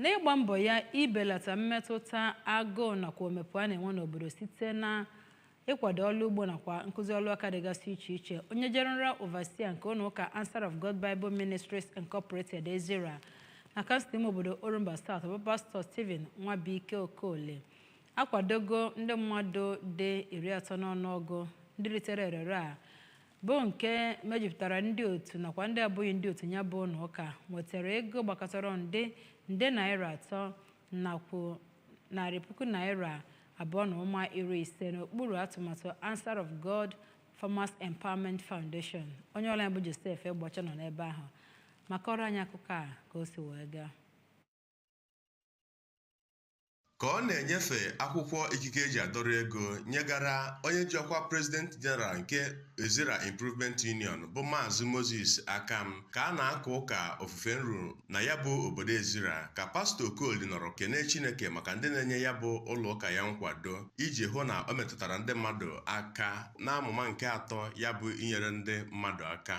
n'ịgba mbọ ya ibelata mmetụta agụụ nakwa omempụ a na-enwe n'obodo site na ịkwado ọrụ ugbo nakwa nkụzi ọrụ aka dịgasị iche iche onye general overseer nke ụlọ ụka Answer of God Bible Ministries Incorporated Ezira na kansụl ime obodo Orumba South bụ pastọ Stephen Nwabuike Okoli akwadogo ndị mmadụ dị iri atọ n'ọnụọgụ ndị ritere erere a bụ nke mejupụtara ndị otu nakwa ndị abụghị ndị otu ya bụ ụlọ ụka nwetara ego gbakọtara nde nde naira atọ nakwa narị puku naira abụọ na ụma iri ise n'okpuru atụmatụ Answer of God Farmers Empowerment Foundation onye ọlụ anyị bụ Joseph Egbeọcha nọ n'ebe ahụ ma kọọrọ anyị akụkọ a ka o si wee gaa ka ọ na-enyefe akwụkwọ ikike e ji adọrọ ego nyegara onye ji ọkwa President General nke Ezira Improvement Union bụ Maazị Moses Akam ka a na-aka ụka ofufe nru na ya bụ obodo Ezira ka pastọ Okoli nọrọ kene Chineke maka ndị na-enye ya bụ ụlọ ụka ya nkwado iji hụ na o metụtara ndị mmadụ aka n'amụma nke atọ ya bụ inyere ndị mmadụ aka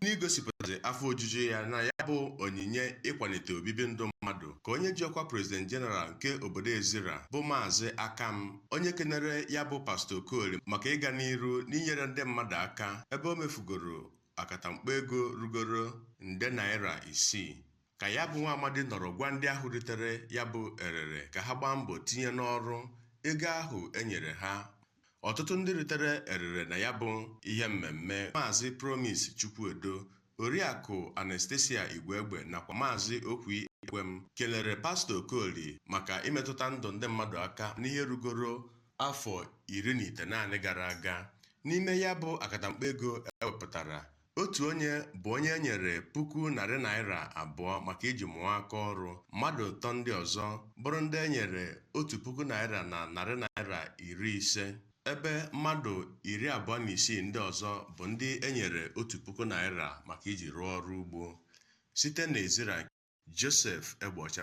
n'igosipụtazi afọ ojuju ya na ya bụ onyinye ịkwalite obibi ndụ mmadụ ka onye ji ọkwa president general nke obodo ezira bụ maazị akam onye kenere ya bụ pastọ okoli maka ịga n'iru n'inyere ndị mmadụ aka ebe o mefugoro akatamkpo ego rugoro nde naira isii ka ya bụ nwa amadi nọrọ gwa ndị ahụ ritere ya bụ erere ka ha gbaa mbọ tinye n'ọrụ ego ahụ e nyere ha ọtụtụ ndị ritere erere na ya bụ ihe mmemme maazị promise chukwuedo oriakụ anastasia igwegbe nakwa maazị okwi ekwem kelere pastọ okoli maka imetụta ndụ ndị mmadụ aka n'ihe rugoro afọ iri na itenaanị gara aga n'ime ya bụ akatamkpo ego ewepụtara Otu onye bụ onye e nyere puku narị naira abụọ maka iji mụọ aka ọrụ, mmadụ atọ ndị ọzọ bụrụ ndị e nyere otu puku naira na narị naira iri ise, ebe mmadụ iri abụọ na isii ndị ọzọ bụ ndị e nyere otu puku naira maka iji rụọ ọrụ ugbo. Site n'Ezira, Joseph Egbeọcha.